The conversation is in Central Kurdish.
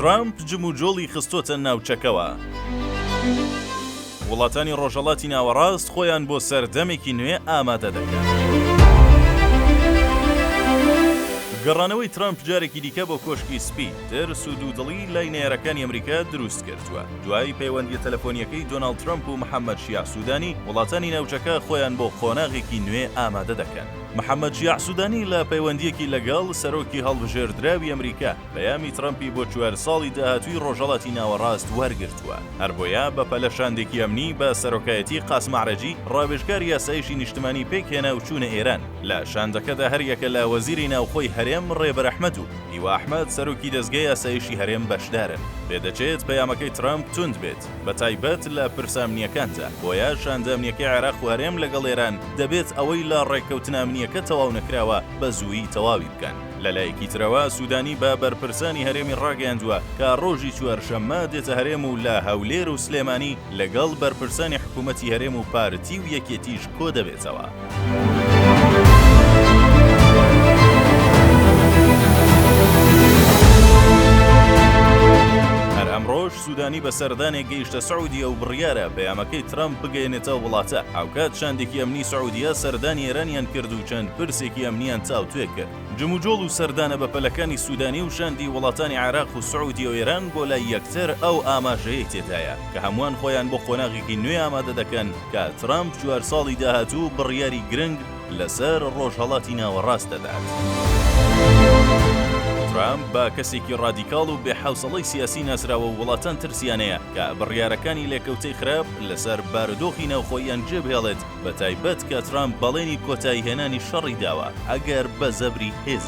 ترەمپ جموجۆڵی خستۆتە ناوچەکەوە، وڵاتانی ڕۆژهەڵاتی ناوەڕاست خۆیان بۆ سەردەمێکی نوێ ئامادە دەکەن. گەڕانەوەی ترەمپ جارێکی دیکە بۆ کۆشکی سپی، ترس و دوودڵی لای نەیارەکانی ئەمریکا دروست کردووە. دوای پەیوەندییە تەلەفۆنییەکەی دۆناڵد ترەمپ و محەممەد شیاع سوودانی، وڵاتانی ناوچەکە خۆیان بۆ قۆناغێکی نوێ ئامادە دەکەن. محەمەد شیاع سودانی لە پەیوەندییەکی لەگەڵ سەرۆکی هەڵبژێردراوی ئەمریکا، پەیامی ترەمپی بۆ چوار ساڵی داهاتووی ڕۆژهەڵاتی ناوەڕاست وەرگرتووە، هەربۆیە بەپەلە شاندێکی ئەمنی بە سەرۆکایەتی قاسم عەرەجی، ڕاوێژکاری ئاسایشی نیشتمانی پێکهێنا و چوونە ئێران. لە شاندەکەدا هەریەکە لە وەزیری ناوخۆی هەرێم ڕێبەر ئەحمەد و هیوا ئەحمەد سەرۆکی دەزگای ئاسایشی هەرێم بەشدارن. پێدەچێت پەیامەکەی ترەمپ توند بێت. بە تایبەت لە پرسە ئەمنییەکاندا، بۆیە شاندە ئەمنییەکەی عێراق و هەرێم لەگەڵ ئێران دەبێت ئەوەی لە ڕێککەوتنە ئەمنییەکە تەواو نەکراوە بە زوویی تەواوی بکەن. لە لایەکی ترەوە سوودانی بە بەرپرسانی هەرێمی ڕاگەیاندووە کە ڕۆژی چوارشەممە دێتە هەرێم و لە هەولێر و سلێمانی لەگەڵ بەرپرسانی حکوومەتی هەرێم و پارتی و یەکێتیش کۆ دەبێتەوە. سودانی بە سەردانێک گەیشتە سعودیە و بڕیارە پەیامەکەی ترەمپ بگەیەنێتە ئەو وڵاتە، هاوکات شاندێکی ئەمنی سعودیە سەردانی ئێرانیان کرد و چەند پرسێکی ئەمنییان تاوتوێ کرد. جموجۆڵ و سەردانە بەپەلەکانی سودانی و شاندی وڵاتانی عێراق و سعودیە و ئێران بۆ لای یەکتر ئەو ئاماژەیەی تێدایە کە هەمووان خۆیان بۆ قۆناغێکی نوێ ئامادە دەکەن کە ترەمپ جوار ساڵی داهاتوو بڕیاری گرنگ لەسەر ڕۆژهەڵاتی ناوەڕاست دەدات. ترامپ بە کەسێکی ڕادیکاڵ و بێحەوسەڵەی سیاسی ناسراوە و وڵاتان ترسیانەیە کە بڕیارەکانی لێکەوتەی خراپ لەسەر بارودۆخی ناوخۆییان جێبهێڵێت بەتایبەت کە ترامپ بەڵێنی کۆتاییهێنانی شەڕی داوە ئەگەر بە زەبری هێزی